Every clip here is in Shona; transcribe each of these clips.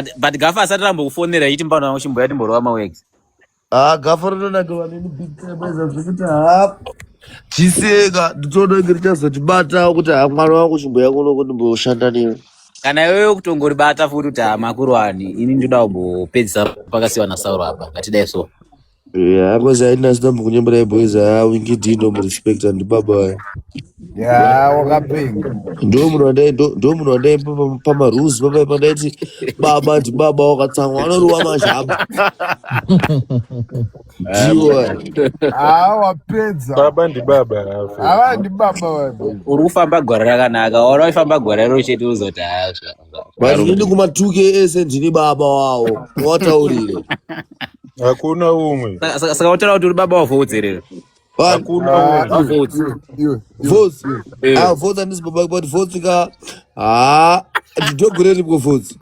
But- but gafa asati rambokufonera yiti mbano yangu chimboya timborova mawegs Ah, gafa rinonakiwa neni big time aiza zvekuti ha chiseka nditodonge richazotibatawo kuti ha mwana wangu chimbo yangu unoko ndimboshanda newe kana iwewe kutongoribata futi kuti hama kuruwani ini ndoda kumbopedzisa pakasiwa nasauro apa ngatidai so Yeah, because I didn't stop kunyembera boys aya wingidi ndomurespecta ndibaba aya. Yeah, wakapinga. Ndo munhu wandai ndo ndo munhu wandai pa- pa- pamarules papa pandaiti baba ndibaba wakatsamwa anorova mazhaba. Ah, Ndiwo aya. mwana. Ah, wapedza. Baba ndibaba hafe. Ava ndibaba vabhizi. Uri kufamba gore rakanaka. Waona waifamba gore rero chete uzoti hazva. Vazhinji kumatuke ese ndini baba wawo wataurire. Hakuna umwe. Saka wataura kuti uri baba wavo udzerere. Hakuna ah, ah, votes. Votes. Eh. Ah votes andisi baba but votes ka ah ndogoreri ko votes.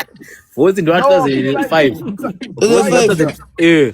Votes ndo 2005. 2005. Eh.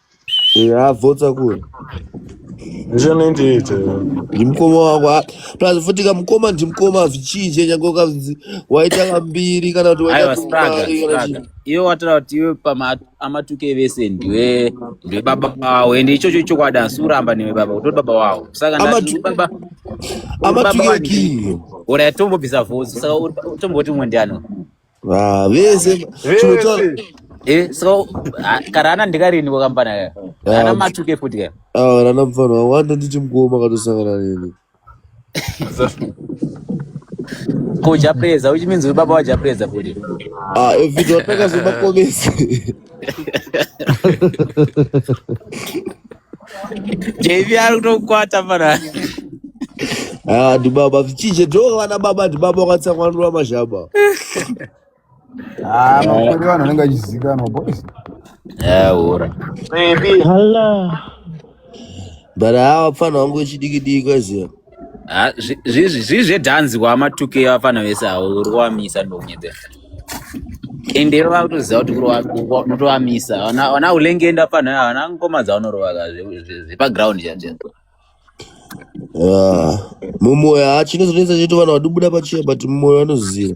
yabvotsa kuri ndizvanoindiita ndimukoma wako plus futi kamukoma ndimukoma hazvichinje nyange ukanzi waita kambiri kana kuti waita kumari iwe wataura kuti iwe paamatuke vese ndiwe ndiwe baba wawo ende ichocho ichokwadi asi uramba newe baba utori baba wawo saka baba amatuke kii ora yatombobvisa vhozi saka tomboti umwe ndiano Ah, vese chinotaura vese Eh, so ah, kara ana ndikarini kwakambana kaya. Ana ah, matuke futi kaya. ah, rana mfana wawanda nditi mkoma akatosangana neni Za- Ko Japreza, which means baba wa Japreza futi. ah, evhidhi wataka zvemakomesi jv ari kutokwata pana Ah, ndibaba vichije ndo vana baba ndibaba wakatsamwanura mazhaba Ah, makore vanhu vanenge vachizikanwa boys. Eh, ora. Maybe. Hala. but hawa pfana wangu wechidiki diki kwaiziva Ah, zvi- zvi- zvi- zvii zvedhanzi kwamatuke vafana vese avo uri kuwamisa ndounyebera ende ivo vakutoziva kuti kuri wa- wa- unotowamisa Wana- wana ulengenda pano wana ngoma dzaunorovaka zvepaground chaizvo Ah, mumoyo hachino zvinonetsa chete vanhu vanobuda pachiya but mumoyo vanoziva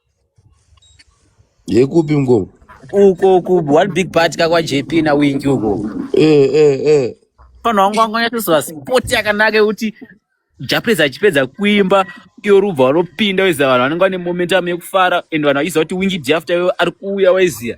Yekupi mkoma? Uko ku one big party ka kwa JP na Winky uko. Eh eh eh. Pano wangu wangu nyatoswa sport yakanaka yekuti Japres achipedza kuimba iyo rubva vanopinda weziva vanhu vanenge vane momentum yekufara and vanhu vachiziva kuti Winky Jafta iwe ari kuuya weziva.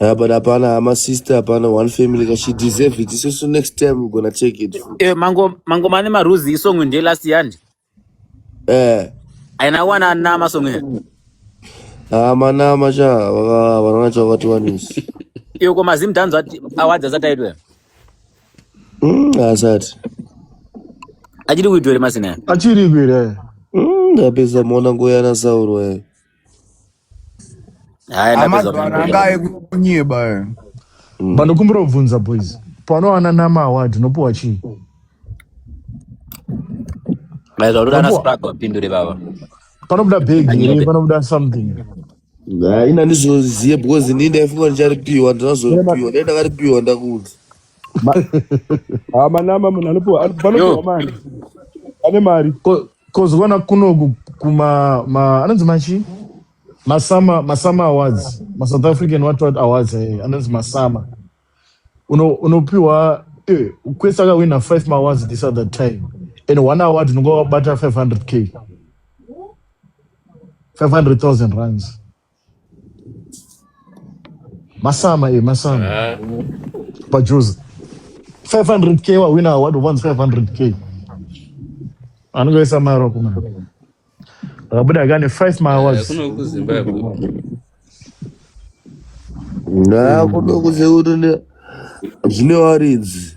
Yeah, but hapana ama sister hapana one family ka she deserve it so so next time we're gonna take it Eh, mango mango mane maruzi isong ndiye last yandi eh aina wana nama song iri ama nama cha vaka- vanaona cha vakati wanisi iyo ko mazim dance ati awards asati aitwa mm asati achiri kuitwa ere masina achiri kwire mm ndapedza muona ngoyana sauro eh Haya ndapedza Amadhara anga kunyeba. ayekunyeba. eh. Mm. Vanokumbira kubvunza boys. Panowana nama award unopiwa chii? Maizwa unoda ana Unopiwa Sprague wapindure baba. panobuda bag here? Anyebe. Panobuda something here? Nah, ina ndizoziye because ndini ndaifunga ndicharipiwa ndinazoripiwa dai ndakaripiwa ndakuudza Ma- Ah, manama munhu anopiwa ano- panopiwa yo mari ane mari ko- kozivana kuno ku- kuma ma, anonzi machi masama masama awards masouth african what what awards eh, anonzi masama Uno- unopiwa eh, kwese akawina five maawards this other time and one award unenge wabata 500k 500000 runs Masama e masama. Ah. Pajuzi. 500k wawina award once 500k. Anogoisa maro kuma. Akabuda kane 5 ma awards. Eh, kuno ku Zimbabwe. Na kuno ku Zimbabwe zvine waridzi.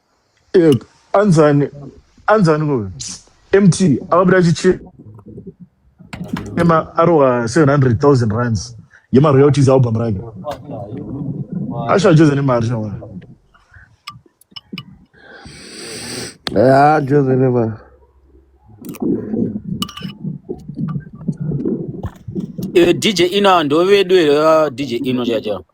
Eh, anzani anzani ko mt akabuda achichema arowa 700000 rands yemaroyalties album rake ashacheza nemari shawana Ah, Jose Neymar. Eh, DJ Ina ndovedu here ah, DJ Ino chacho.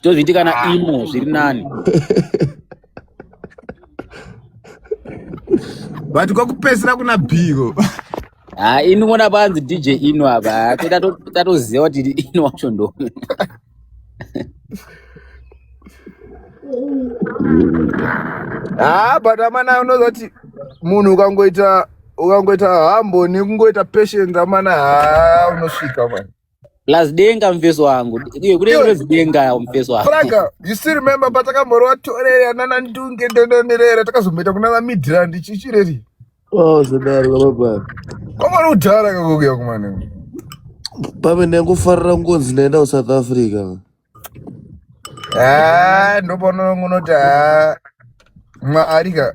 Zvitozviiti kana ah. imo zviri nani. But kwakupesera kuna Biko. Ah, ini ngona panzi DJ Ino apa. Tatoziva kuti Ino wacho ndo. Ah, but amana unozoti munhu ukangoita ukangoita hambo nekungoita patient amana haa unosvika mani Plus denga mfesi wangu. Ndiye kule kule denga mfesi wangu. Praga, you still remember patakamborwa torere anana ndunge ndononerera takazombeta kunana Midrand chichireri. Oh, zodari baba. Koma rudhara kakuya kumana. Pame nekufarira ngonzi naenda ku South Africa. Ah, ndopono ngunoti ah. Mwa arika.